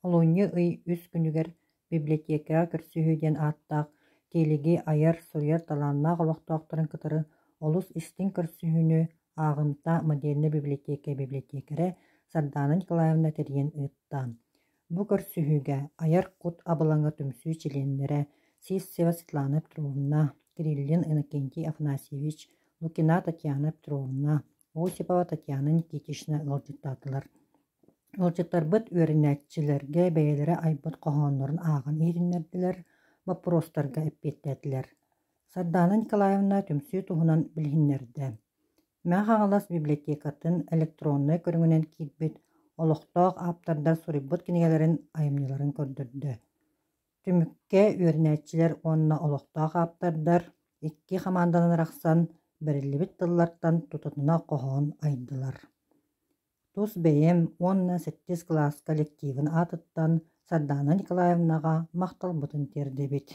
Олунньу ый үс күнүгэр библиотекаҕа көрсүһүү диэн ааттаах тиэлиги айар-суруйар талааннаах олохтоохторун кытары олус истиҥ көрсүһүүнү ааҕымта модельнай библиотека библиотекаря Сардаана Николаевна тэрийэн ыытта. Бу көрсүһүүгэ айар кут абылаҥа түмсүү чилиэннэрэ Сивцева Светлана Петровна, Кириллин Иннокентий Афанасьевич, Лукина Татьяна Петровна, Осипова Татьяна Никитична ыалдьыттаатылар. Ыалдьыттарбыт үөрэнээччилэргэ бэйэлэрэ айбыт хоһооннорун ааҕан иһитиннэрдилэр, боппуруостарга эппиэттээтилэр. Сардаана Николаевна түмсүү туһунан билиһиннэрдэ. Мэҥэ Хаҥалас библиотекатын электроннай көрүҥүнэн киирбит олохтоох ааптардар суруйбут кинигэлэрин айымньыларын көрдөрдө. Түмүккэ үөрэнээччилэр уонна олохтоох ааптардар икки хамаанданан арахсан бэриллибит тыллартан тутатына хоһоон айдылар тус бэйэм уонна сэттис кылаас коллективын аатыттан Сардаана Николаевнаҕа махталбытын тиэрдэбит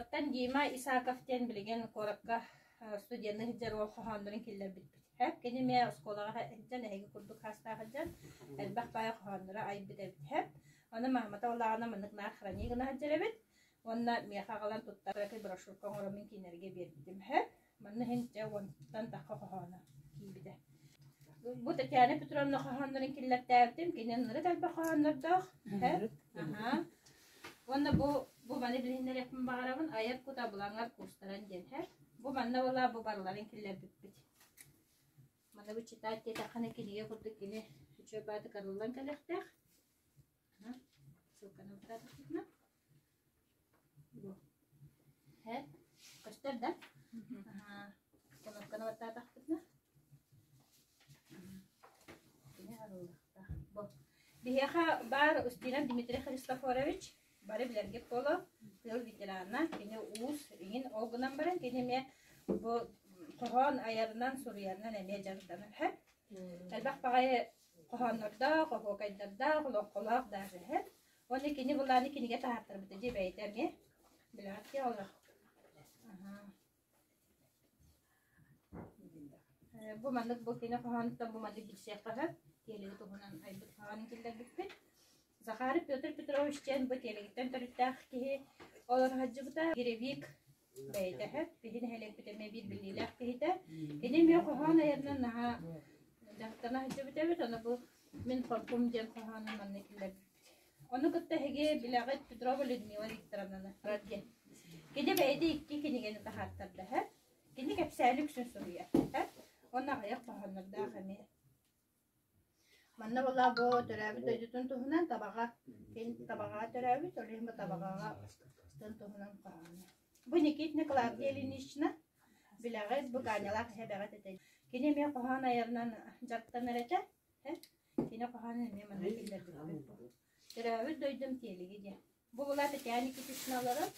Оттон Дима Исаков диэн билигин куоракка студенныы сылдьар уол хоһооннорун киллэрбиппитэ. Кини эмиэ оскуолаҕа сылдьан, эһиги курдук саастаах сылдьан, элбэх баҕайы хоһоонноро айбыт эбитэ. Ону мамата улааҕына маннык наар хронигына сылдьар эбит. Уонна миэхэ аҕалан туттарарга брошюрка оҥороммун кинилэргэ биэрбитим. Манна иһин дьэ уонтан тахха хоһооно киирбитэ. Бу Татьяна Петровна хоһооннорун киллэртээбитим. Кинин ныры тальба хоһооннордоох. Аха. Уонна бу бу маны билиһиннэриэхпин баҕарабын айар кута булаҥар куустаран диэн һэр. Бу манна була бу барыларын киллэрбиппит. Маны бу читать диэтэххэ кинигэ курдук кини үчүгэй бааты кырыллан кэлэхтээх. Һэ, көстөр да? Кынапкана баттаатахпытына. Кини арыллахта. Бу. Биһиэхэ баар Устинов Дмитрий Христофорович, бары билэргит буоло, тыл ветерана, кини уус, иҥин ол гынан баран, кини эмиэ бу хоһоон айарынан, суруйарынан эмиэ дьарыктанар. Элбэх баҕайы хоһооннордоох, оһуокайдардаах, олоҥхолоох даже иһэр. Уонна кини былааны кинигэ таһаартарбыта дии бэйэтэ эмиэ. Билэҕиттии олох. Бу маннык бу кини хоһоонуттан бу маннык билсиэххэ сөп. Тиэлиги туһунан айбыт хоһоонун киллэрбиппит. Захаров Петр Петрович диэн бу тиэлигиттэн төрүттээх киһи олор сылдьыбыта. Гиревик бэйэтэ сөп. Киһи нэһилиэкпит эмиэ биир биллиилээх киһитэ. Кини эмиэ хоһоон айанынан наһаа дьахтана сылдьыбыт эбит. Ону бу «Мин хоркум» диэн хоһоонун манна киллэрбиппит. Ону кытта эһиги билэҕит Петрова Людмила Викторовнаны радио. Кини бэйэтэ икки кинигэни таһааттарда. Кини кэпсээни үксүн суруйар. Онно аҕыйах хоһооннордоох эмиэ Манна была бу төрөөбүт дойдутун туһунан табаҕа киһин табаҕаҕа төрөөбүт, ол иһин бу табаҕаҕа тын туһунан хоһооно. Бу Никитина Клавдия Ильинична билэҕит, бу Гаанялаах эһэ бэҕэт этэ. Кини эмиэ хоһоон айарынан дьарыктанар этэ. Э? Кини хоһоонун эмиэ манна киллэрбиппит. Төрөөбүт дойдум тиэлиги диэн. Бубула Татьяна Никитична олорор.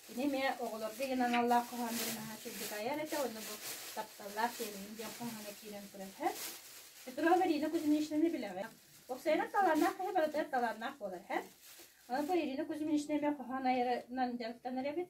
Кини эмиэ оҕолорго иһин аналлаах хоһооннорун аһа сирдик айар этэ, ону бу тапталлаах тиэмэһин диэн хоһооно киирэн турар үһү. Петрова Марина Кузьминичнаны билэҕин. Уопсайынан талааннаах киһи барытыгар талааннаах буолар үһү. Аны бу Ирина Кузьминична эмиэ хоһоон айарынан дьарыктанар эбит.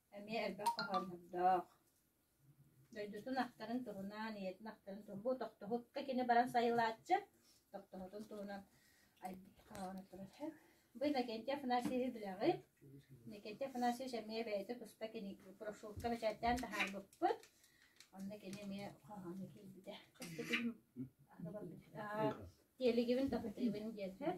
Эмиэ элбэх хоһооннордоох. Дойдутун ахтарын туһунан, ийэтин ахтарын туһунан, бу тохтобукка кини баран сайылааччы, тохтобутун туһунан айбыт хоһооно турар. Бу Иннокентий Афанасьевич билэҕит. Иннокентий Афанасьевич эмиэ бэйэтэ туспа кини брошюрка бэчээттээн таһаарбыппыт. Онно кини эмиэ хоһооно киирбитэ. Кэскилим аһы барбыт. Тиэлигибин таптыыбын диэттэр.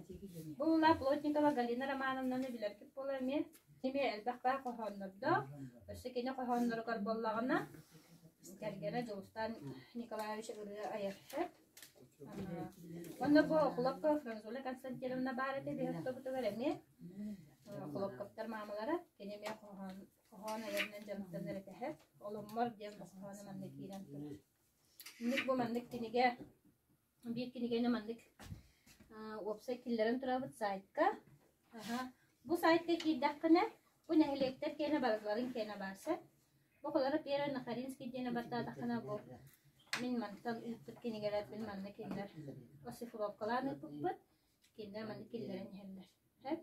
Бу ула Плотникова Галина Романовнаны билэргит буолуо эмиэ. Эмиэ элбэхтээх хоһооннордоох. Өссө кини хоһоонноругар буоллаҕына, кэргэнэ Дьулустаан Николаевич ырыа айаршет. Онно бу Окулопко Франзула Константиновна баар этэ биһиэхтобутугар эмиэ. Окулопковтар маамалара кини эмиэ хоһоон хоһоон айарынан дьаныктанар этэ. Олуммор диэн хоһоону манна киирэн турар. Инник бу маннык кинигэ Биир кинигэни маннык уопсай киллэрэн турабыт саайтка. Бу сайтка киирдэххинэ, бу нэһилиэктэр киэнэ барыларын киэнэ баар сөп. Букалара Пера Нахаринский диэни баттаатаххына бу мин мантан ыыппыт кинигэлэрбин манна кинилэр оссифровкалаан ыыппыппыт. Кинилэр манна киллэрэн иһэллэр. Сөп.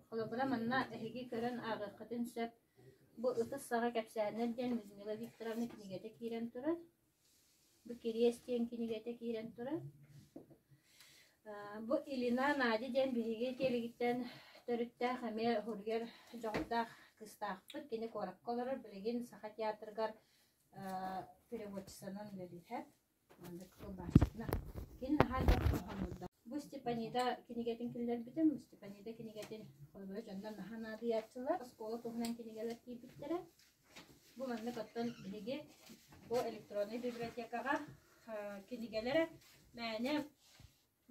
Холобура, манна эһиги көрөн ааҕыаххытын сөп. Бу ытыс саҕа кэпсээннэр диэн Людмила Викторовна кинигэтэ киирэн турар. Бу Кириэс диэн кинигэтэ киирэн турар. Бу Илина Надя диэн биһиги киэлигиттэн төрүттээх эмиэ уһуругар дьоҕурдаах кыыстаахпыт. Кини куоракка олорор, билигин Саха театрыгар переводчицанан үлэлиир. Маннык тылбааччытына. Кини наһаа элбэх хоһооннуурдаах. Бу Степанида кинигэтин киллэрбитим. Бу Степанида кинигэтин холобура дьонно наһаа наадыйааччылар. Оскуола туһунан кинигэлэр киирбиттэрэ. Бу маннык оттон биһиги бу электроннай библиотекаҕа кинигэлэрэ мээнэ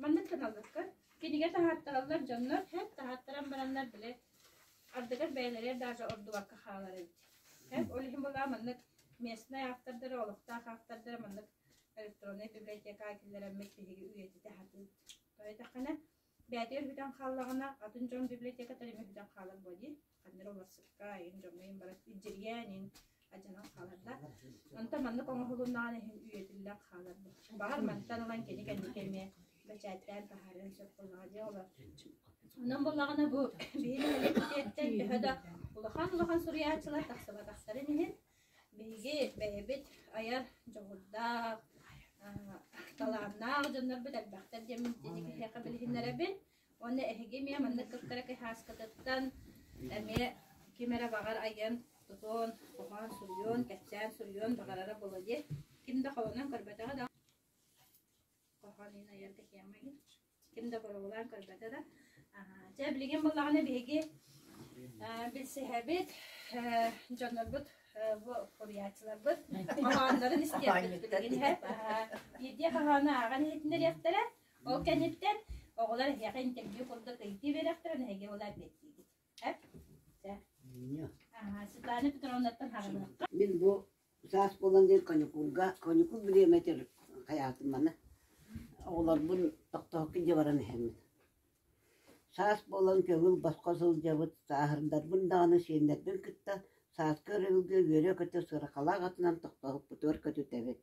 маннык гыналларгар кинигэ таһаартараллар дьоннор һэт таһаартаран бараннар били ардыгар бэйэлэригэр даже ордубакка хаалар эбит. Һэт ол иһин была маннык местнай автордары, олохтоох автордары маннык электроннай библиотекаҕа киллэрэммит биһиги үйэтитэ сатыыбыт. Тоойутэххинэ бэйэтэ үһүтэн хааллаҕына атын дьон библиотекатар эмэ үһүтэн хаалар буо дии ханнары уларсыкка иһин дьоҥҥо иһин баран илдьиргээн иһин адьанан хааларда онтон маннык оҥоһулуннаҕына иһин үйэтиллэн хаалар баҕар мантан ылан кини кэнники эмиэ бэчээттээн таһаарыан сөп буоллаҕа дии олор онон буоллаҕына бу биһиги муниципалитеттан төһө да улахан улахан суруйааччылар тахсыбатахтарын иһин Биһиги бэйэбит айар дьоҕурдаах, талааннаах дьоннорбут элбэхтэр диэн итинник киһиэхэ билиһиннэрэбин. Уонна эһиги эмиэ маннык кыттара кыһааскытыттан эмиэ ким эрэ баҕар айан, тутуон, хоһоон суруйуон, кэпсээн суруйуон баҕарара буолуо дии. Ким да холонон көрбөтөҕө да хоһоон иһин айан тэкиэм миһин ким да боругулаан көрбөтө да дьэ билигин буллаҕына биһиги билсиһэбит дьоннорбут буруйааччыларбыт хоһооннорун истиэхпит билигин иһэ биирдии хоһоону ааҕан иһитиннэриэхтэрэ ол кэнниттэн оҕолор эһиэхэ интервью курдук ыйытыы биэриэхтэрэ эһиги ол эппиэттиигит Светлана Петровнаттан хараныахха. Мин бу Саас буолан диэн коньукуурга, коньукур билиэм этэр хайаатыманы. Оҕолорбун тохтоһукка дьэ баран иһэммин. Саас буолан көгүл босхо сылдьабыт, сааһырдарбын даҕаны сиэннэрбин кытта сааскы өрөбүлгэ үөрэ-көтө сырахалаах атынан тохтоһукпутугар көтүтэбит.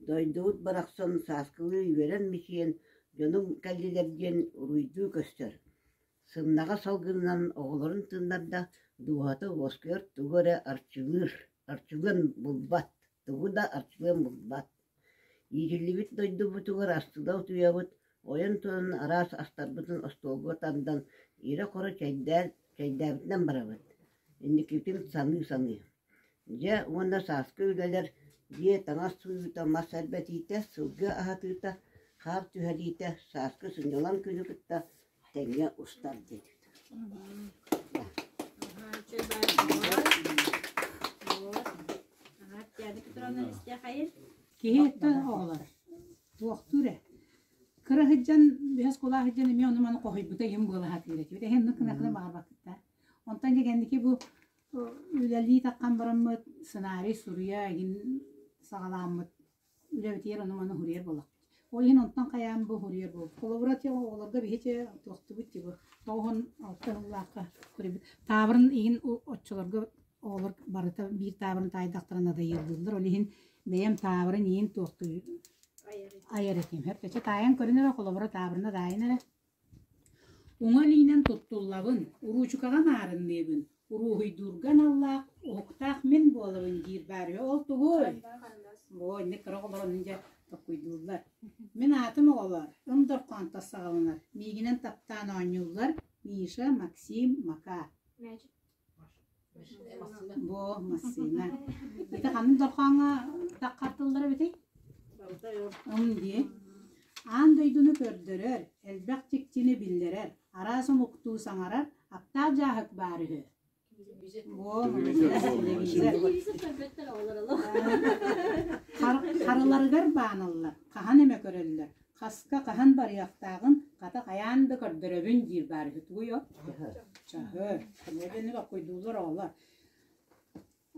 Дойдубут барахсан сааскылыы үөрэн мичийэн дьонум кэллилэр диэн уруйдуу көстөр Сымнаҕас салгынынан оҕолорун тыыннарда, дууһата уоскуйар, тугу эрэ арчылыыр, арчылыан булбат, тугу да арчылыан булбат. Иитиллибит дойдубутугар астына утуйабыт, ойон туран араас астарбытын остуолга тардан, ирэ-хоро чэйдээн, чэйдээбитинэн барабыт. Инникитин саныы-саныы Дьэ, уонна сааскы үлэлэр, дьиэ таҥас сууйуута, мас эрбэтиитэ, сылгы аһатыыта, хаар түһэриитэ, сааскы сынньалаҥ күнү кытта тэҥҥэ устар диэтик. Киһи өттө оҕолор туохтуур ээ. Кыра сылдьан, бэс кулаа сылдьан эмиэ ону-маны хоһуйбута иһин буола сатыыр этибит. Эһин ну кынакына баарбаккыттар. Онтон дигэнники бу үлэлии таххан бараммыт сценарий суруйа игин саҕалааммыт үлэбитигэр ону-маны уһуруйар буолла. Ол иһин онтон хайаан бу уһуруйар буол. Холобура те оҕолорго биһиче туохтубут тибы тоғон алта ыллаахка көрөбүт. Таабырын иин оччолорго оҕолор барыта биир таабырын таайдахтарын адайыллылар. Ол иһин бэйэм таабырын иин туохтуй айар этим. Хөртөчө таайан көрүнөрө холобура таабырына таайын эрэ Уҥа илиинэн туттуллабын, уруучукаҕа наарынныыбын, уруоһуйдуурга аналлаах уһуктаах мин буолабын диир баарыйа ол тугуй? Бу инник кыра оҕолорун дьэ токкуйдууллар. Мин аатым оҕолоор, Ындорхоонтос саҕаланар, миигинэн таптаан оонньууллар Миша, Максим, Макаа. Бу массыына. Ити ханын дорхооҥҥо таххартыллара битий? Ым дии. Аан дойдуну көрдөрөр, элбэх чикчини биллэрэр, араас омуктуу саҥарар аптаах дьааһык баар үһү. Во, Харыларыгар бааналлар, хаһан эмэ көрөллөр, Хаска хаһан барыахтааҕын хата хайаан да көрдөрөбүн диир баар үһү тугуй от? Чаһы. Көмө дэни баккойдууллар оҕолор.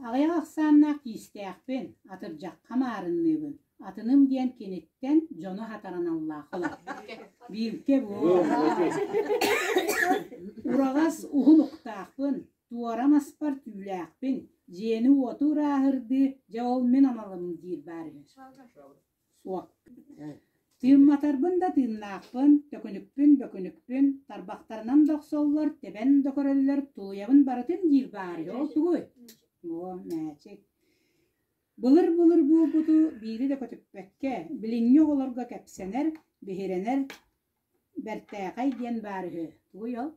Аҕыйах ахсааннаах киистээхпин, атырдьахха маарынныыбын. Атыным диэн киниттэн дьону хатараналлаах олор. Биилкэ буол. Ураҕас уһун уктаахпын, туора маспар түүлээхпин, дьиэни-уоту урааһырдыы, дьэ ол мин амалым диир баар үһү. Суох. Тыымматарбын да тыыннаахпын, төкүнүкпүн бөкүнүкпүн, тарбахтарынан да охсоллор, тэбэн да көрөллөр, тулуйабын барытын диир баары. Ол тугуй? Оо, мээчик. Былыр-былыр буолбуту биири да көтүппэккэ, билиҥҥи оҕолорго кэпсэнэр, биһирэнэр, Бэртээхэй диэн баар үһү, тугуй ол?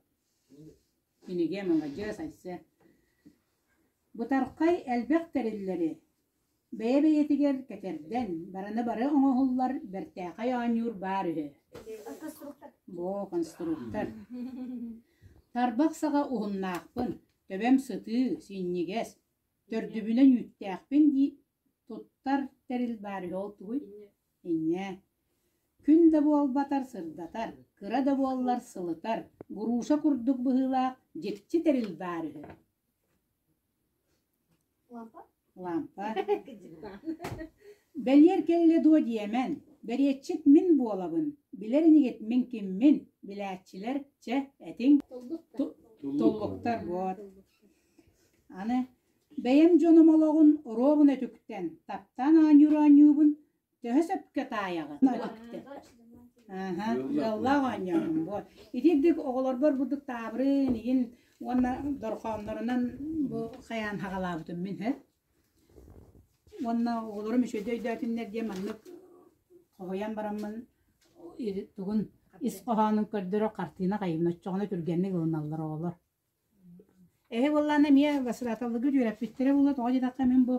Кинигэ маладьыас Айсэ. Бытархай элбэх тэриллэри бэйэ-бэйэтигэр кэтэрдэн, бараны-бары оҥоһуллар бэртээхэй оонньуур баар үһү. Бо, конструктор. Тарбах саҕа уһуннаахпын, төбөм сытыы, синньигэс, төрдүбүнэн үүттээхпин дии туттар тэрил баар үһү ол тугуй? Инньэ. Күн да буолбатар сырдатар, кыра да буоллар сылытар, груша курдук быһыылаах дьикти тэрил баар үһү. Лампа? Лампа. Бэлиэр кэллэ дуо диэмэн, бэриэтчит мин буолабын, билэр инигитмин киммин, билээччилэр, чэ, этиҥ, туллуктар буот. Аны Бэйэм дьонум олоҕун уруогун өтүктэн, таптаан оонньуур-оонньуубун төһө сөпкө таайаҕын ыаллаах оонньоорум буо итиирдик оҕолорбор бурдук таабырын иин уонна дорҕооннорунан бу хайаан хаҕалаабытым мин һэ уонна оҕолорум үчүгэй өйдөөтүннэр диэн маннык хоһуйан бараммын тугун ис хоһоонун көрдөрө хартыына хайыыбын оччоҕуна түргэнник ылыналлар оҕолор Эһи буоллаҕына эмиэ Васраталыгы үөрэппиттэрэ буолуо, тоҕо диэтэххэ мин бу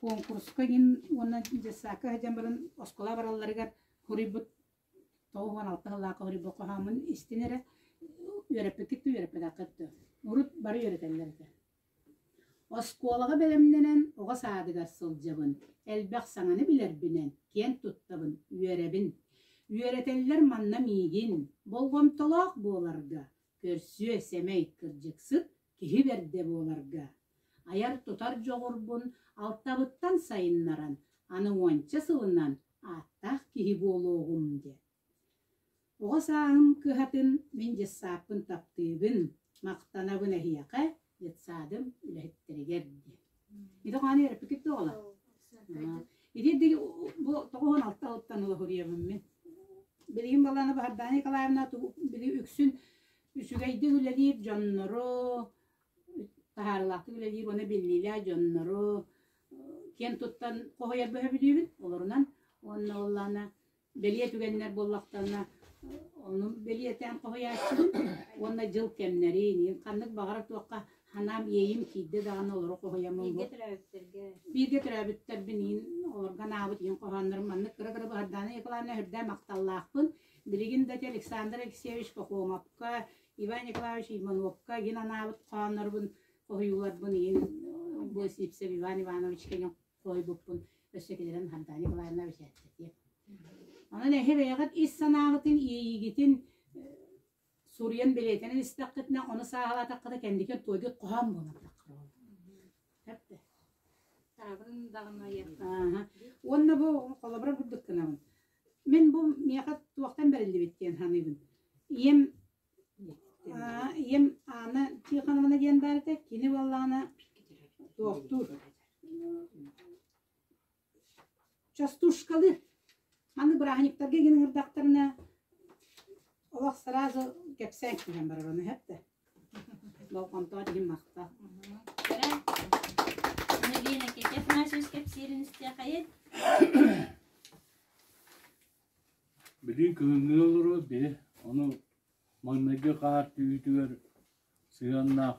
куонкуруска иһин уонна детсакка сылдьан баран оскуола баралларыгар хоруйбут тоҕус уон алта сыллаахы хоруйбут хоһооммун истин эрэ үөрэппиккит да үөрэппэтэххит да урут бары үөрэтэллэр этэ. Оскуолаҕа бэлэмнэнэн оҕо саадыгар сылдьабын. Элбэх саҥаны билэрбинэн, киэн туттабын, үөрэбин. Үөрэтэллэр манна миигин, болҕомтолоох буоларга, Көрсүө сэмэй, кырдьыксыт киһи бэрдэ буоларга. Айар-тутар дьоҕурбун алтабыттан сайыннаран, аны уонча сылынан ааттаах киһи буолуоҕум диэн. Оҕо сааһым кыһатын мин дьыссааппын таптыыбын, махтанабын эһиэхэ, детсадым үлэһиттэригэр диэн. Ити хааны өрөппүкүт оҕала. Итиэр диги бу тоҕуһун алта ылыттан ылаһуриябын мен. Билигин баланы Бахардаана Николаевна били үксүн үсүгэйдик үлэлиир дьоннору, таһаарылаахтык үлэлиир уона биллиилээ дьоннору, киэн туттан хоһуйар бөһө билиибин олорунан, уонна оллана бэлиэ түгэннэр буоллахтарына ону бэлиэтээн хоһуйааччыбын уонна дьыл кэмнэрин, ханнык баҕара туохха анаам иэйим киирдэ даҕаны олору хоһуйаммын. Бииргэ төрөөбүттэргэ. Бииргэ төрөөбүттэрбин иин олорго анаабыт иин хоһооннорум маннык кыра кыра баһардааны Николаевна үрдээн махталлаахпын. Билигин да те Александр Алексеевич Кокомовка, Иван Николаевич Ивановка иин анаабыт хоһооннорбун хоһуйууларбын иин бу Сипсев Иван Иванович кэньок Сойбуппун өссө кэлэрин Хантаня Николаевна бэчээттэтиэ. Онон эһи бэйэҕит ис санааҕытын, иэйиигитин суруйан бэлиэтэнэн истэххитинэ, ону сааһылаатаххына кэнники туойгут хоһоон буолатаххына ол. Тэпте. Таабын даҕана Ааха. Уонна бу холобур курдук гынабын. Мен бу миэхэ туохтан бэриллибит диэн саныыбын. Ийэм Аа, ийэм Анна Тихоновна диэн баар этэ, кини буоллаҕына туохтуур. Частушкалы маннык бырааһынньыктарга гин ыҥырдахтарына олох сразу кэпсээн түһэн барар ону сөп да болҕомтоҕо тиһин махта Кара, Навина Китет наших кэпсиирин истиэхэйин Билигин кыһыҥҥы олору били ону маҥнайгы хаартыһыытыгар сыһыаннаах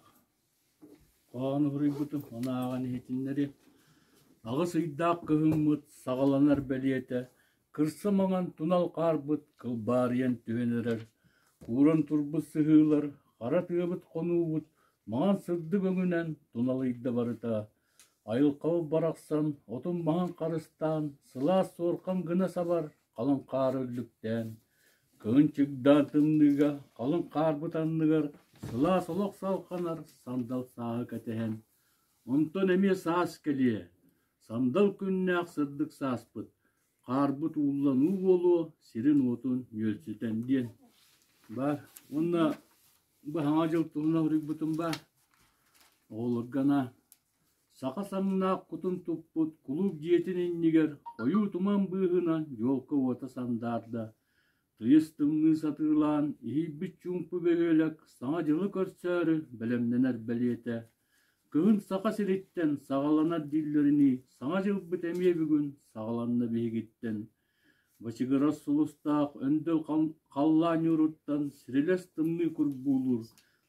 хоһоон уруйбутум, ону ааҕан иһитиннэри аҕыс ыйдаах кыһыммыт саҕаланар бэлиэтэ кырса маҥан тунал хаарбыт кылбаарыйан түһэн эрэр, кууран турбут сыһыылар, хара тыабыт хонуубут маҥан сырдык өҥүнэн туналыйда барыта Айылҕабыт барахсан отун маҥан харыстаан, сылаас суорҕан гына сабар халыҥ хаары үллүктээн, кыһын чыгдаан тымныыга халыҥ хаар бытанныгар сылаас олох салҕанар сандал сааһы кэтэһэн, онтон эмиэ саас кэлиэ, сандал күннээх сырдык сааспыт Хаарбыт уулланыы буолуо, сирин-уотун нүөлсүтэн диэн баар уонна Баһаҥа дьыл туһунан суруйбутум баар. Оҕолорго анаан саха саҥнаах кутун туппут кулууп дьиэтин иннигэр хойуу туман быыһынан елка-уота сандаарда, тыйыс тымныы сатыылаан иһийбит чуумпу бөһүөлэк саҥа дьылы көрсөөрү бэлэмнэнэр бэлиэтэ Кыһын Саха сириттэн саҕаланар дииллэринии, Саҥа дьылбыт эмиэ бүгүн саҕаланна биһигиттэн. Бачыгырас сулустаах өндөл халлаан ньууруттан сирилэс тымныы курбуулуур,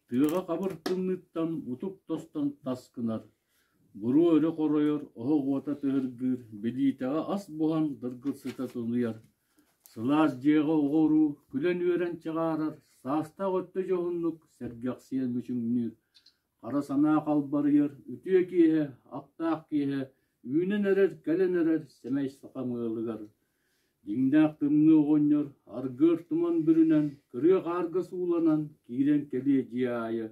тыаҕа хабыр тымныыттан утук тостон таскынар, буруу өрө хоройор, оһох уота тыһыргыыр, билиитэҕэ ас буһан дыргыссыта тунуйар, сылаас дьиэҕэ оҕо-уруу күлэн-үөрэн чаҕаарар, саастаах өттө дьоһуннук сэргэхсийэн мүчүҥнүүр, Хара санаа халбарыйар, үтүө киэһэ, аптаах киэһэ, үүнэн эрэр, кэлэн эрэр сэмэй сахам ыалыгар. Дьиҥнээх тымныы оҕонньор аргыар туман бүрүнэн, кырыа хаарга сууланан киирэн кэлиэ дьиэ аайы.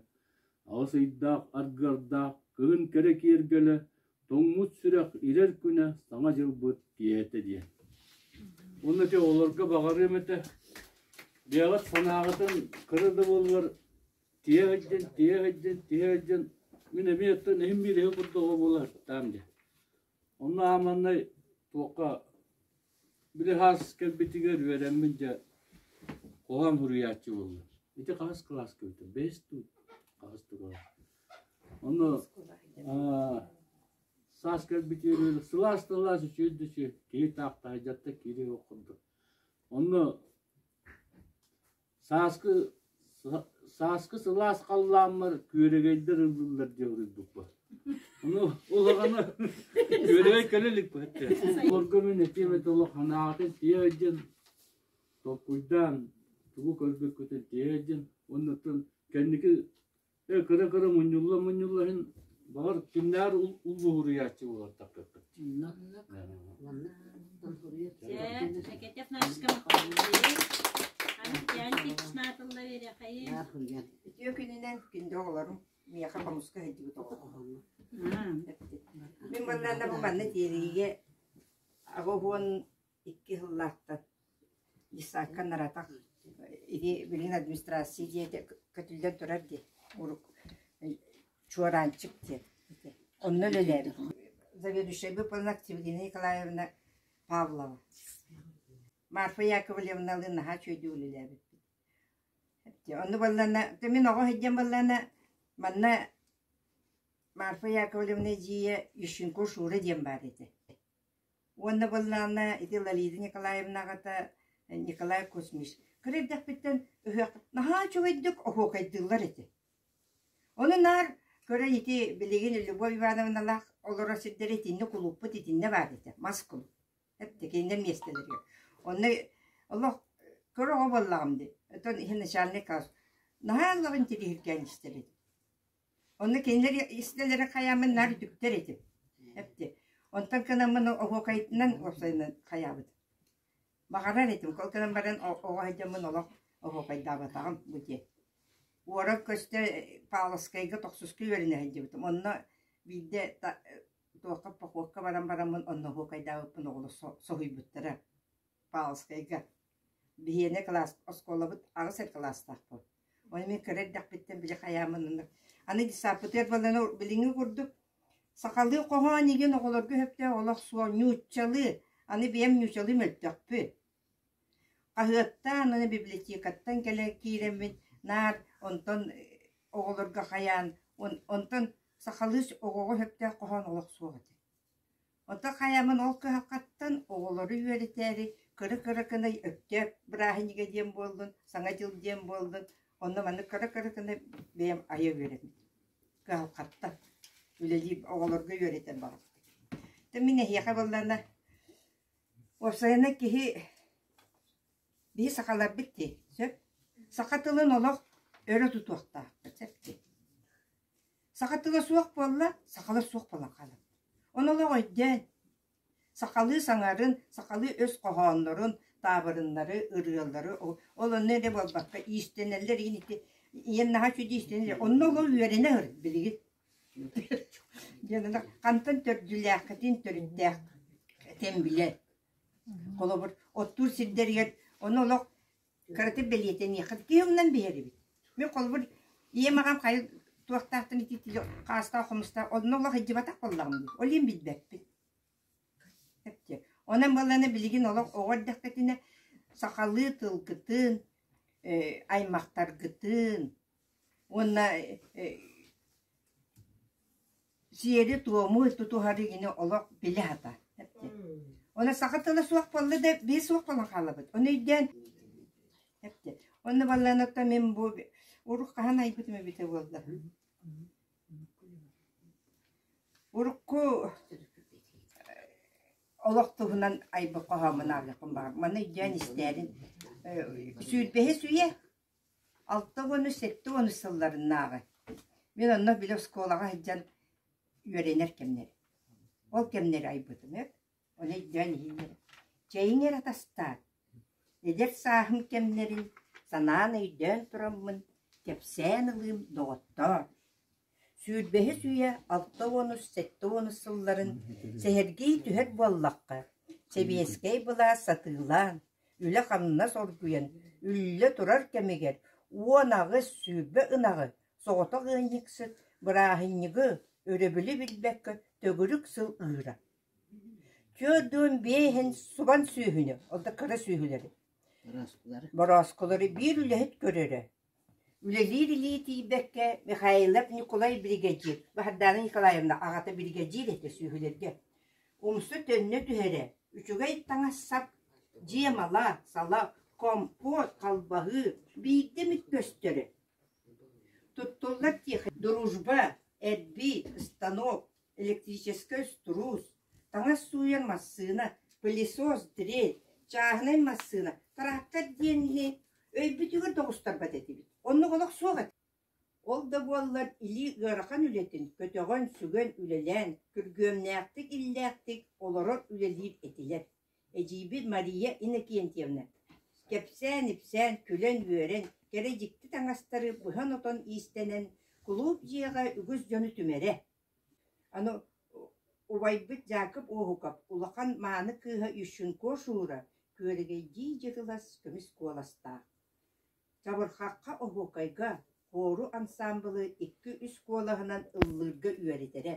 Аҕыс ыйдаах аргыардаах кыһын кэрэ киэргэлэ, тоҥмут сүрэх ирэр күнэ саҥа дьылбыт киэһэтэ диэн. Онно ити олорго баҕарыам этэ. Бэйэҕит санааҕытын кыра да буоллар тиһэ сылдьын, тиһэ сылдьын, тиһэ сылдьын, мин эмиэ оттон иһим биириһи курдук оҕо буолар сытаам диэ. Онно ааманнай туохха били хаас кэлбитигэр үөрэммин дьэ хоһоон суруйааччы буоллум. Ити хаҕыс кылааска бүтүм. Бэс туу хаҕыс турала. Онно саас кэлбитигэр сылаас тылаас үчүүй түсү киһи таахтаһа дьатта киирии ох курдук. Онно Сааскы сааскы сылаас халлааммар күөрэгэйдэр ыллыллар диэн уруйбуппут. Ону улаханы күөрэгэй көлө иликпэт. Орго мин этиэм это олох ханаатын тиэдин толкуйдаан тугу көрбүккүтүн тиэдин уонна тын кэнники кыра-кыра мунньулла-мунньулла иһин баҕар кимнээр улбуһуруйааччы буолартаккаккыт. Шакетев нашкам Антиантик шнатылла верехаи. Үтүө күнүнэн күндү оҕолорум миэхэ хомуска сылдьыбыт оҕолорум. Мин манна бу манна тиэрийигэ аҕа уһуон икки сыллаахтан десантка наратах ини билигин администрация дьиэтэ көтүллэн турар дии урут чуораанчык диэн онно үлэлээбит заведующая выполнена Активгина Николаевна Павлова Марфа Яковлевналыын наһаа үчүгэйдик үлэлээбиппит Онну баллана, мин оҕо сылдьан баллана, манна Марфа Яковлевна дьиэ Ющенко Шура диэн баар этэ уонна буоллаҕына ити Ларида Николаевна аҕата Николай Кузьмич кыра эрдэхпиттэн ыһыах наһаа үчүгэйдик оһуокайдыыллар этэ. Ону наар көрөн ити билигин Любовь Ивановналаах олорор сирдэрэ итинник кулууппут итиннэ баар этэ, мас кулууп. Эрдэкинэ миэстэлэригэр. Онно олох кыра оҕо буоллаҕым дии. Оттон иһин начальник наһаа ыллаҕын тирииһиргээн истэр этим. Онно кинилэр истэлэрэ хайааммын наар үтүктэр этим эпти Онтон кынаммын оһуокайытынан уопсайынан хайаабыт. Баҕарар этим, ол гынан баран оҕо сылдьаммын олох оһуокайдаабатаҕым бу диэн. Уоран көстө Павловскайга тохсуска үөрэнэ сылдьыбытым. Онно биирдэ туохха похуокка баран бараммын онно оһуокайдаабыппын оҕолор соһуйбуттара. Павловскайга. Биһиэнэ кылаас оскуолабыт аҕыс эр кылаастаахпын. Ой, мин кыра эрдэхпиттэн били хайааммын ыннык. Аны гестапотыгар балана билиҥҥи курдук сахалыы хоһоон игин оҕолорго сөптөөх олох суо ньууччалыы, аны бэйэм ньуучалыы мөлтөхпүн. Хаһыаттаан, аны библиотекаттан кэлэн киирэммин наар онтон оҕолорго хайаан, онтон сахалыы оҕоҕо сөптөөх хоһоон олох суох этэ Ото хайамын ол кыһалҕаттан оҕолору үөрэтээри кыра-кыра кынай Өктөөп бырааһынньыга диэн буоллун, Саҥа дьыл диэн буоллун, онно маны кыра-кыра кынай бэйэм айа үөрэбин. Кыһалҕаттан үлэлиир оҕолорго үөрэтэн баҕаспын. Та мин эһиэхэ буоллаҕына, уопсайынан киһи биһи сахаларбыт дии, сөп? Саха тылын олох өрө тутуохтаахпыт, сөп дии. Саха тыла суох буолла, сахалар суох буолан хаалан. Ону олох өйдөөн, сахалыы саҥарын, сахалыы өс хоһооннорун, таабырыннары, ырыалары, ол онно эрэ буолбакка иистэнэллэр иин ити ийэн наһаа үчүгэй иистэнэллэр. Онно олох үөрэнэ өр, билигин. диэн ана хантан төрдүлээххитин төрүттээх этэн билэр. Холобур, оттуур сирдэригэр ону олох Кыратык бэлиэтэниэххэ түһүмнэн биһэрибит. Мен холбур ийэм аҕам хайа туохтаахтан итиитили хаастаах-хомустаах онно олох илдьибатах буоллаҕым дии. Ол иһин билбэппин. Эпчи. Онон буоллана билигин олох оҕо эрдэхпитинэ сахалыы тылгытын, э, аймахтаргытын уонна э, сиэри-туому тутуһары ини олох билэ-хата Ону саха тыла суох буолла да бии суох буолан хаалабыт. Ону өйдөөн эптэ. Онно балланыттан мин бу урук хаһан айбытым эбитэ буолла. Урукку олох туһунан айбы хоһоомун аалыахпын баар. Маны өйдөөн истээрин. Сүүрбэһи сүйэ Алта уону сэттэ уону сылларынааҕы мин онно били оскуолаҕа сылдьан үөрэнэр кэмнэрим. Ол кэмнэри айбытымыт, ону өйдөөн иһиннэр чэйиҥ эрэ атастаан, эдэр сааһым кэмнэрин санаан өйдөөн тураммын, кэпсээн ылыым доҕоттоор Сүүрбэһис үйэ алта уонус сэттэ уонус сылларын сэһэргии түһэр буоллахха, сэбиэскэй былаас сатыылаан, үлэ-хамнас оргуйан, үллэ турар кэмигэр уон аҕыс сүүрбэ ынаҕы соҕотох ыанньыксыт бырааһынньыгы өрөбүлү билбэккэ төгүрүк сыл ыыра. Түөрт уон биэһин субан сүөһүнү, ол да кыра сүөһүлэри, борооскулары биир үлэһит көрөрө Үлэлиир илии тиийбэккэ, Михайлов Ньукулай биригэдьиир, Баһардаана Николаевна аҕата биригэдьиир этэ сүөһүлэргэ, умса төннө түһэрэ, үчүгэй таҥас-сап, дьиэ-мала, сала, компот, халбаһыы, биирдэ эмит көстөрө. Туттуллар диэхэ дружба, эрбии, станок, электрическэй струус, таҥас сууйар массыына, пылесос, тирей, чааһынай массыына, трактор диэн иһи өйбүтүгэр да оҕустарбат этибит. Оннук олох суох этэ. Ол да буоллар илии ыарахан үлэтин көтөҕөн, сүгэн үлэлээн, күргүөмнээхтик, иллээхтик олорор үлэлиир этилэр. Эдьиийбит Мария Иннокентьевна кэпсээн-ипсээн, күлэн-үөрэн, кэрэ дьикти таҥастары быһан-отон иистэнэн, кулууп дьиэҕэ үгүс дьону түмэрэ, аны убайбыт Дьаакып Уоһукап улахан мааны кыыһа Ющенко-Шуура күөрэгэйдии дьытылас көмүс куоластаах. Чабырхахха оһуокайга хору ансаамбылы икки-үс куолаһынан ыллыырга үөрэтэрэ,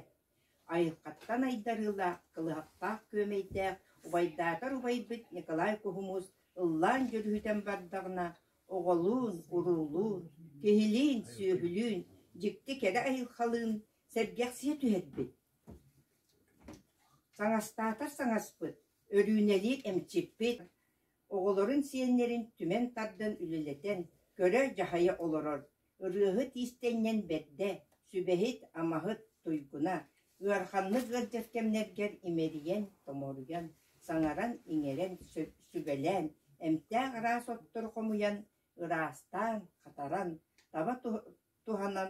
айылҕаттан айдарыылаах, кылыһахтаах күөмэйдээх убайдаатар убайбыт Николай Куһумуус ыллаан дьүрүһүтэн бардаҕына оҕолуун, уруулуун, киһилиин, сүөһүлүүн дьикти кэрэ айылхалыын сэргэхсийэ түһэрбит, саҥастаатар саҥаспыт, өрүүнэлиир эмчиппит, оҕолорун сиэннэрин түмэн тардан үлэлэтэн, көрө-дьаһайа олорор Ырыаһыт иистэнньэҥ бэрдэ, сүбэһит, амаһыт, туйгуна, ыараханнык ыалдьар кэмнэргэр имэрийэн, томоруйан, саҥаран, иҥэрэн, сүбэлээн, эмтээх араас оттору хомуйан, ыраастаан, хатаран, таба туһанан,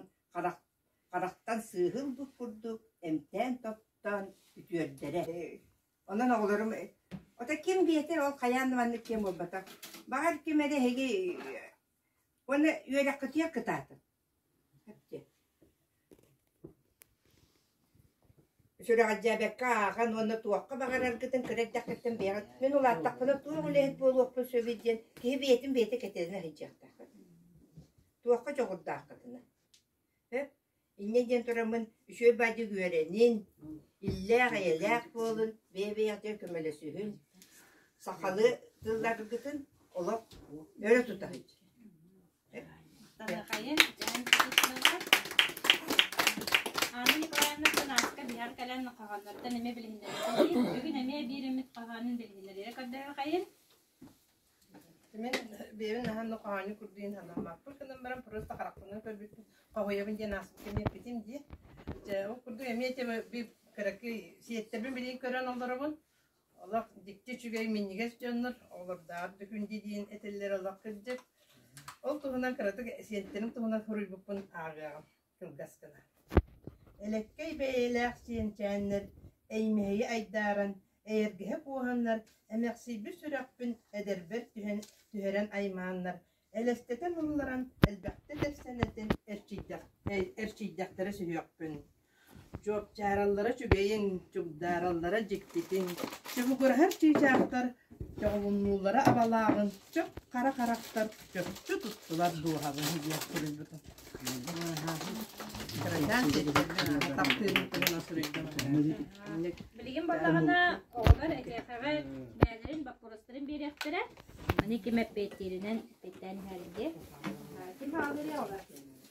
харахтан сыыһын бут курдук эмтээн-тоттоон үтүөрдэрэ. Онон оҕолорум ото ким биэтэр ол хайаан да маннык киһи буолбатах. Баҕар ким эрэ эһиги Уонна үөрэххитигэр кытаатыҥ. Сүрэҕэлдьээбэккэ ааҕан уонна туохха баҕараргытын кыра эрдэххиттэн бэйэҕит мин улааттахпына туох үлэһит буолуохпун сөбүй диэн киһи бэйэтин бэйэтэ кэтээн иһиттиэхтээх. Туохха дьоҕурдааххытына. Һык, инньэ диэн тураммын үчүгэй баайдык үөрэнин, иллээх-эйэлээх буолун, бэйэ-бэйэҕитигэр көмөлөсүһүн, сахалыы тылларгытын олох өрө тута сылдьыҥ. Далакайын, Дьэһэн Кутузовна, Анна Николаевна Кунаска биһар кэлэн хаҕаннартан эмиэ билиһиннэриэхтэрин, бүгүн эмиэ биир эмит хаһаанын билиһиннэриэ көрдөһүөхэйин. Мин бэйэбин наһаа да хоһоонньу курдуйун санаммаппын гынан баран просто харахпынан көрбүппүн хоһуйабын диэн ааспыттан иэппитим дии. Дьэ ол курдук эмиэ этиэм би кыракый сиэттэрбин билигин көрөн олоробун. Олох дикти үчүгэй минньигэс дьоннор олордаар дүкүндии диин этиллэр олох кырдьык. Ол туһунан кыратык сиэттэрим туһунан хоруйбуппун ааҕыаҕым. кылгас гына. Элэккэй бэйэлээх сиэнчээннэр эймэһийэ айдааран, эйэргэһэ куоһаннар, эмэхсийбит сүрэхпин эдэрбэр түһэн түһэрэн аймааннар, элэстэтэн ылларан элбэхтэ тэпсэнэтин эрчийдэх, эрчийдэхтэрэ сүһүөхпүн. Чуопчаараллара үчүгэйин, чугдаараллара дьиктитин, чубугураһар чыычаахтар Чоҕулуннуулара абалааҕын чып хара харахтар чөкчө туттулар дууһабын диэн суруйбутум. Бырайдаан сиэттэрбин аата таптыырын көрөн суруйдум. Билигин буоллаҕына оҕолор эдьиэхэҕэ бэйэлэрин боппуруостарын биэриэхтэрэ. Аны ким эппиэттииринэн эппиэттээн иһэргэ. Ким хаалыырый оҕолор?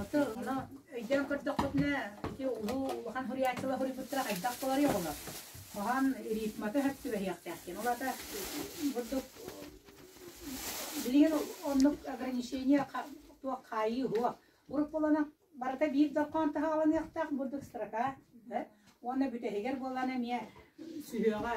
Ото ону өйдөөн көрдөхпүтүнэ, ити улуу улахан суруйааччылар суруйбуттара хайдах буоларый оҕолор? Хоһоон рифмата сөп түбэһиэхтээх диэн. Ол аата бурдук билигин оннук ограничение туох хаайыы суох. Урут буолана барыта биир дорҕоон таһаҕаланыахтаах бурдук строка уонна бүтэһигэр буоллаҕына эмиэ сүһүөҕэ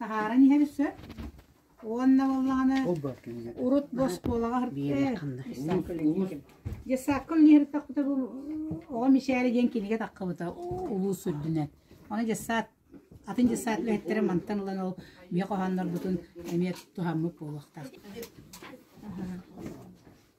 таһааран иһэбит сөп. Уонна буоллаҕына урут боскуолаҕа саркыл Десаккыл нихрыттахпыта бу оҕо мишээри диэн кинигэ таххабыта улуус үрдүнэн. Оны десаат атын десаат үлэһиттэрин мантан ылан ол миэ хоһооннорбутун эмиэ туһаммыт буолуохтаах.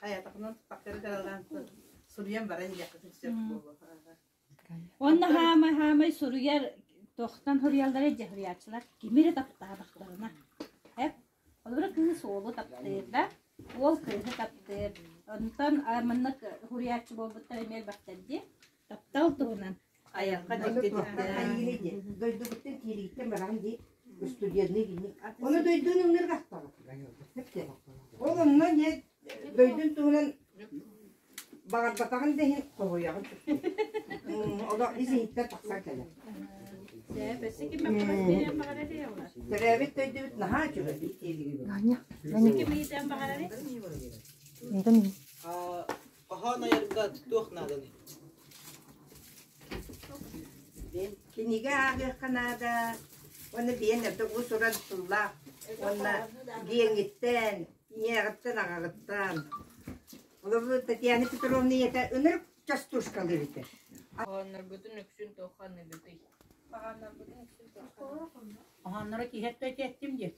Хайатахынан таппаккары далалаан суруйан баран иһиэххитин сөп буолуо. Уонна хаамай хаамай суруйар тохтон суруйаллара дьэ суруйааччылар кими эрэ таптаабахтарына. Эп олору кыыс уолу таптыыр да, уол кыыһы таптыыр. Онтон маннык суруйааччы буолбуттар эмиэ элбэхтэр дии. Таптал туһунан айарга дьиктитиктээн дойдубуттан киирииттэн баран дии устудьуоннуу гинник. Оны дойдун ыңнырга ахтабыт. Ол онно не дойдун туһунан баҕарбатаҕын да иһин тоһуйаҕын. Олох изиһиттэн тахсан кэлэр. Төрөөбүт дойдубут наһаа үчүгэй диилигибит. Менен миитен баҕарары? Миитен Хоһоон айарга туох нааданый? Кинигэ ааҕыахха наада уонна биэн эрдэ бу туран тыллаах уонна гиэҥиттэн, ийэҕиттэн, аҕаҕыттан. Олору Татьяна Петровна ийэтэ ынырык частушкалыы бүтэр. Хоһооннорбутун үксүн туох ханныгытый? Хоһооннорбутун үксүн туох Хоһоонноро киһи өттө этиэттим диэ.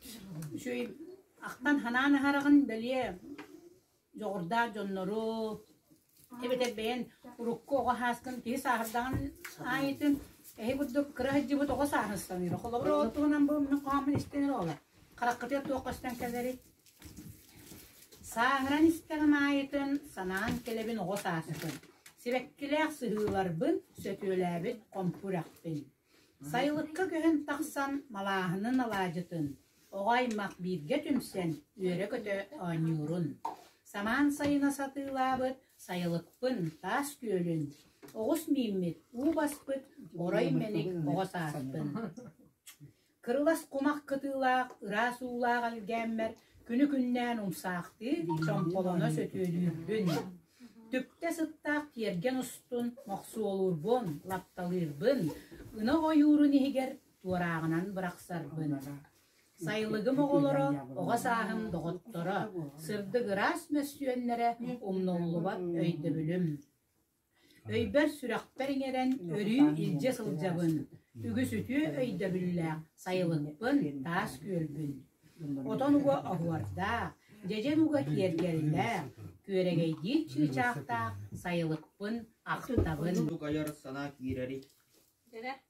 Үчүгэй ахтан ханаан аһараҕын бэлиэ дьоҕурдаах дьоннору эбэтэр бэйэн урукку оҕо сааскын киһи сааһырдаҕын аайытын эһи курдук кыра сылдьыбыт оҕо сааһыстаныыра холобур ол туһунан бу мин хоһооммун истэн эрэ ола хараххытыгар туох көстөн кэлэрий сааҥыран истэҕим аайытын санаан кэлэбин оҕо саастыкын сибэккилээх сыһыыларбын сөтүөлээбит хомпур ахпын Сайылыкка күһүн тахсан малааһынын алаадьытын, оҕо-аймах бииргэ түмсэн үөрэ-көтө оонньуурун, самаан сайына сатыылаабыт сайылыкпын, таас күөлүн, оҕус мииммит, уу баспыт, орой мэник оҕо сааспын Кырылас кумах кытыылаах, ыраас уулаах элгээммэр күнү-күннээн умсаахтыы, чомполоно сөтүөлүүрбүн, түптэ сыттаах тиэргэн устун мохсуолуурбун, лапталыырбын, ынах ойуурун иһигэр туорааҕынан бырахсарбын. Сайылыгым оҕолоро, оҕо сааһым доҕотторо, сырдык ыраас мөссүөннэрэ умнуллубат өйдөбүлүм. Өйбөр-сүрэхпэр иҥэрэн өрүү илдьэ сылдьабын, үгүс үтүө өйдөбүллээх сайылыкпын, таас күөлбүн. Отон уга оһуордаах, дьэдьэн уга киэргэллээх, күөрэгэйдиир чыычаахтаах сайылыкпын ахтабын.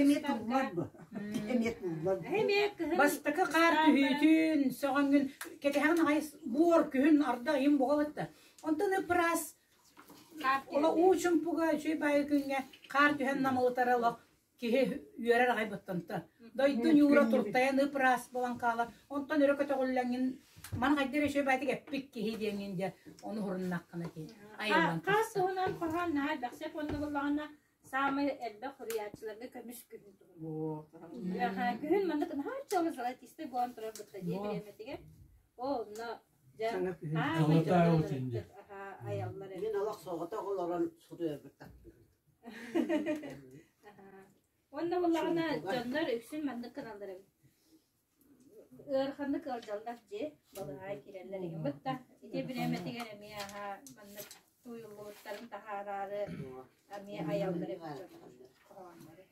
Эмиэ туллар бу. Эмиэ туллар бу. Бастакы хаар түһүүтүн, сөҕөҥҥүн, кэтэһэҕин аҕай буор күһүн арда ыйын буҕалатта. Онтон ыпыраас Ола уучумпуга үчүй байы күҥҥэ хаар түһэн намылытара олох киһи үөрэр аҕай боттонто. Дойду ньуура туртайан ыпыраас болан хаалар. Онтон өрө көтөҕүллэҥҥин ман хайдар үчүй байтик эппит киһи диэҥҥин дэ ону хуруннаххына диэн. Айыллан. Хаар туһунан хорҕан наһаа бэхсеп оннугуллаҕына саамай элбэх суруйааччыларга көмүс күһүн туһунан. күһүн маннык наһаа золотистый буолан турар бытта дии бириэмэтигэр. Оо, онно айаллар Мен олох соҕото олорон суруйарбыттан. Уонна буллаҕына дьоннор үксүн маннык каналлар эбит. Ыараханнык ыалдьаллар дьиэ балаһаа киирэллэр игиммит да ити бириэмэтигэр эмиэ аһаа маннык тууйуллубуттарын таһаараары эмиэ айаллар эбит дьоннор хоһооннору.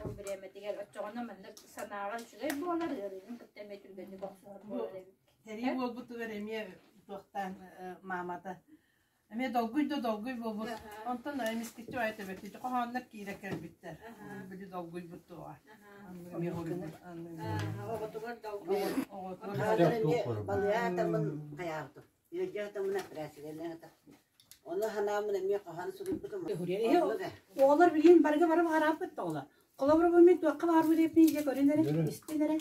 Ол бириэмэтигэр оччоҕуна маннык санааҕа үчүгэй буолар, ыарыыгын кытта эмиэ түргэнник охсуһар буолар эбит. Сэрии буолбутугар эмиэ туохтаан маамата Эмиэ долгуй да долгуй буолбут. Онтон эмискэччи айта-бэртиччи хоһооннор киирэ кэлбиттэр. Били долгуйбут дуоҕа. Эмиэ хоруйбут. Оҕотугар долгуй. Оҕотугар долгуй. Балыа атамын хайаабытым. Үөрдэ атамын операциялаан ата. Оны ханаамын эмиэ хоһоон суруйбутум. Оҕолор билигин барыга бары баҕарааппыт тоҕула. Холобур бу мин туохха баарбыт эппин дьэ көрүн эрэ, истин эрэ.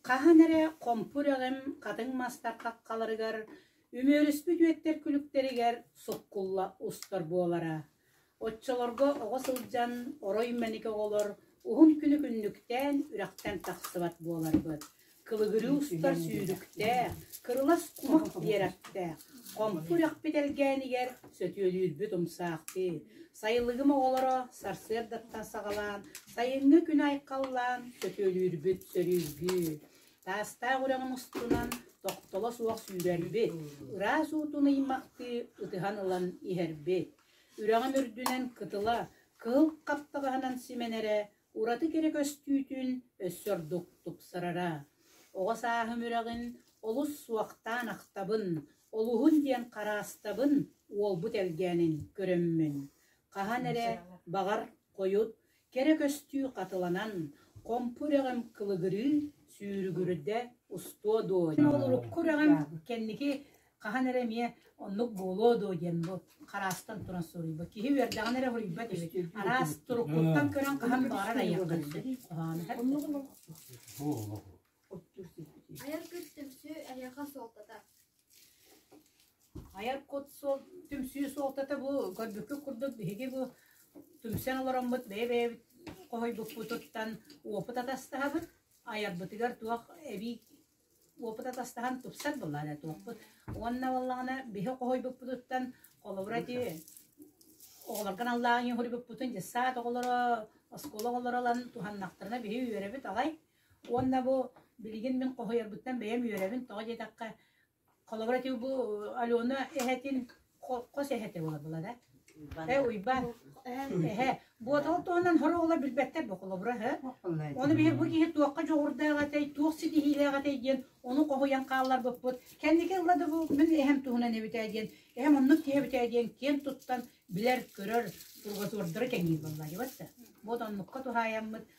Хаһан эрэ хомпур эҕим хатыҥ мастар хаххаларыгар Үмүөрүспүт үөттэр күлүктэригэр суккулла устар буолара. Оччолорго оҕо сылдьан орой мэник оҕолор уһун күнү күннүктээн үрэхтэн тахсыбат буоларбыт. Кылыгырыы устар сүүрүктээх, кырылас кумах биэрэктээх, хомпу үрэхпит элгээнигэр сөтүөлүүрбүт умсаахтыы, сайылыгым оҕолоро сарсыардаттан саҕалаан сайыҥҥы күн айхаллаан сөтүөлүүрбүт сөрүүргүү. Саастаах үрэҕим устунан тохтоло суох сүүрэрбит, ыраас уутун ыймахтыы ытыһан ылан иһэрбит. Үрэҕим үрдүнэн кытыла, кыһыл хаптаҕаһынан симэнэрэ, ураты кэрэ көстүүтүн өссө ордук тупсарара. Оҕо сааһым үрэҕин олус суохтаан ахтабын, олуһун диэн хараастабын, уолбут элгээнин көрөммүн. Хаһан эрэ, баҕар, хойут, Кэрэ көстүү хатыланан, Хомпу үрэҕим кылыгырыы, Сүүрүгүрдэ устуо дуо диэн. Ол урукку үрэҕим кэнники хаһан эрэ эмиэ оннук буолуо дуо диэн бу хараастан туран суруйба. Киһи үөрдэҕин эрэ хоруйбат эбит. Араас туруктуттан көрөн хаһан баҕарар айахтан сөп. Оннугун Айар күр түмсүү эһиэхэ суолтата. Айар кут суол, түмсүү суолтата бу көрбүппүт курдук биһиги бу түмсэн олороммут бэйэ-бэйэбит хоһуйбуппутуттан уопут атастаһабыт, айарбытыгар туох эбии уопут атастаһан тупсар буоллаҕына эрэ туохпут. Уонна буоллаҕына биһи хоһуйбуппутуттан холобура ити оҕолорго аналлаах хоһуйбуппутун дьэ саад оҕолоро оскуола оҕолоро ылан туһаннахтарына биһи үөрэбит алай Уонна бу билигин мин хоһуйарбыттан бэйэм үөрэбин, тоҕо диэтэххэ, холобура ити бу Алена эһэтин хос эһэтэ буолабыла да? Э, Уйбаан. Эһэ. Буотал туһунан хороҕоло билбэттэр бу холобура, һэ? Ону биһир бу киһи туохха дьоҕурдаах этэй, туох ситиһиилээх этэй диэн ону хоһуйан хаалларбыппыт. Кэнники ылла да бу мин эһэм туһунан эбитэ диэн, эһэм оннук киһи эбитэ диэн киэн туттан билэр, көрөр, кулгасуордара кэҥиир буолла дьыбатта. Буот оннукка туһаайаммыт,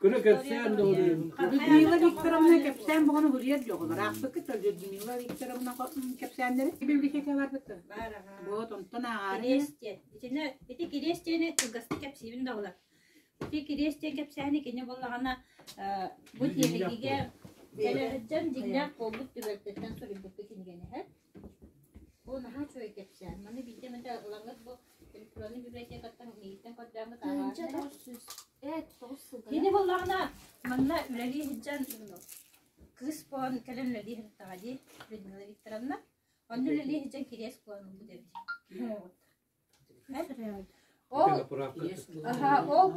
Кыра кэпсээн да oluyor. Людмила Викторовна кэпсээн бөҕөнү булуйар дьоҕулар. Аахпыккыттар Людмила Викторовна кэпсээннэри библиотека барбыттар. Вот онтон ааҕарыйа. Итинэ ити кириэстиэни кылгастык кэпсиибин да болар. Ити кириэстиэн кэпсээни кини боллаҕана бу тиэһигигэ Элэрдьэн дьиҥнээх буолбут түбэлтэттэн суруйбутта кинигэнэһэр. Бу наһаа үчүгэй кэпсээн. Маны биирдэ эмэтэ ылаҥыт бу электроннай библиотекаттан миигиттэн көрдөөҥҥүт ааҕааччылар. Эт, тоҕус сылга. Кини буоллаҕына манна үлэлии сылдьан кыыс буолан кэлэн үлэлии сырыттаҕа дии Людмила Викторовна. Онно үлэлии сылдьан кириэс буолан ылбыт эбит. Ол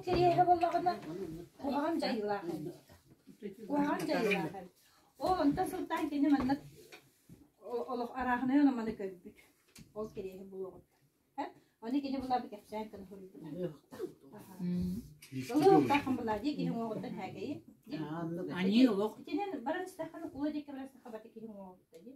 кириэһэ буоллаҕына куһаҕан дьайыылаах эбит. Куһаҕан дьайыылаах эбит. Ол онтон сылтаан кини манна олох арааһынай ономаны көрбүт. Ол кириэһи булуоҕут. Оны кини булаары кэпсээн кыны хоруйбута. Олох таххан була дии киһи оҥоҕуттан хаагайы. Ани олох. Итинэн баран стахан кула диэки баран стаха бати киһи оҥоҕутта дии.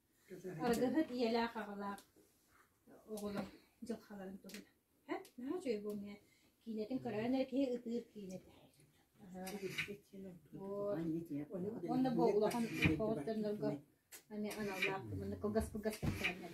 Аргыһыт ийэлээх-аҕалаах оҕолор дьылхаларын туһунан һэ наһаа үчүгэй буолуо киинэтин көрөөн эрэ киһи ытыыр киинэ уонна бу улахан оҕолордорго аналлаах кылгас кылгас кэпсээннэр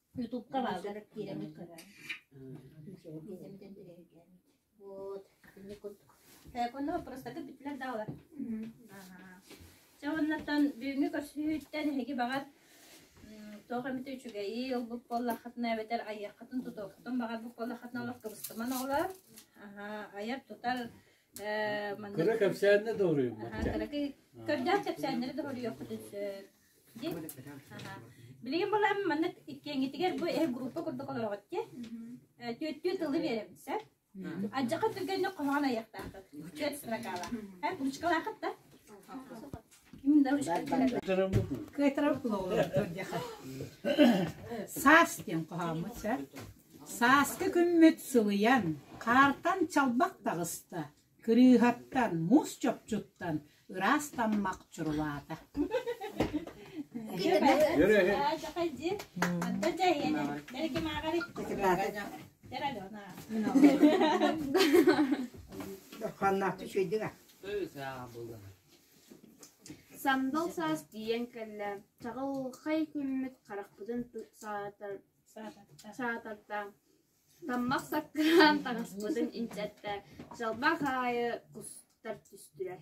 Ютубка бааллар киэрэни көрөн биэзэмитин тирэһиргээн вот итинник курдук конно вопростарга бүттүлэр да олар Чэ оннаттан бүгүҥҥү көрсүһүүттэн эһиги баҕар туох эмите үчүгэйи ылбыт буоллаххытына эбэтэр айыаххытын тутуоххутун баҕарбыт буоллаххытына олох кыбыстыман оҕолор айар тутар кыра кэпсээннэ да уруйуммут кырдьаах кэпсээннэри да уруйуоххутун сөп Билигин булам маннык иккиңитигэр бу эһи группа курдук олороҕут ди түттүү тылы биэрэбит сөп адьака түргэнник хоһоон айыахтаахыт түөрт строкалаах һэ ручкалаахыт да саас диэн хоһооммут сөп сааска күммүт сылыйан хаартан чалбах таҕыста Кырыыһаттан, муус чопчуттан ыраас таммах чурулаата Сандал саас тиийэн кэллэ, чаҕылхай күммүт харахпытын саатар саатарда. Таммах саккаан таҥаспытын инчэттээк, чалбах аайы кустар түстүлэр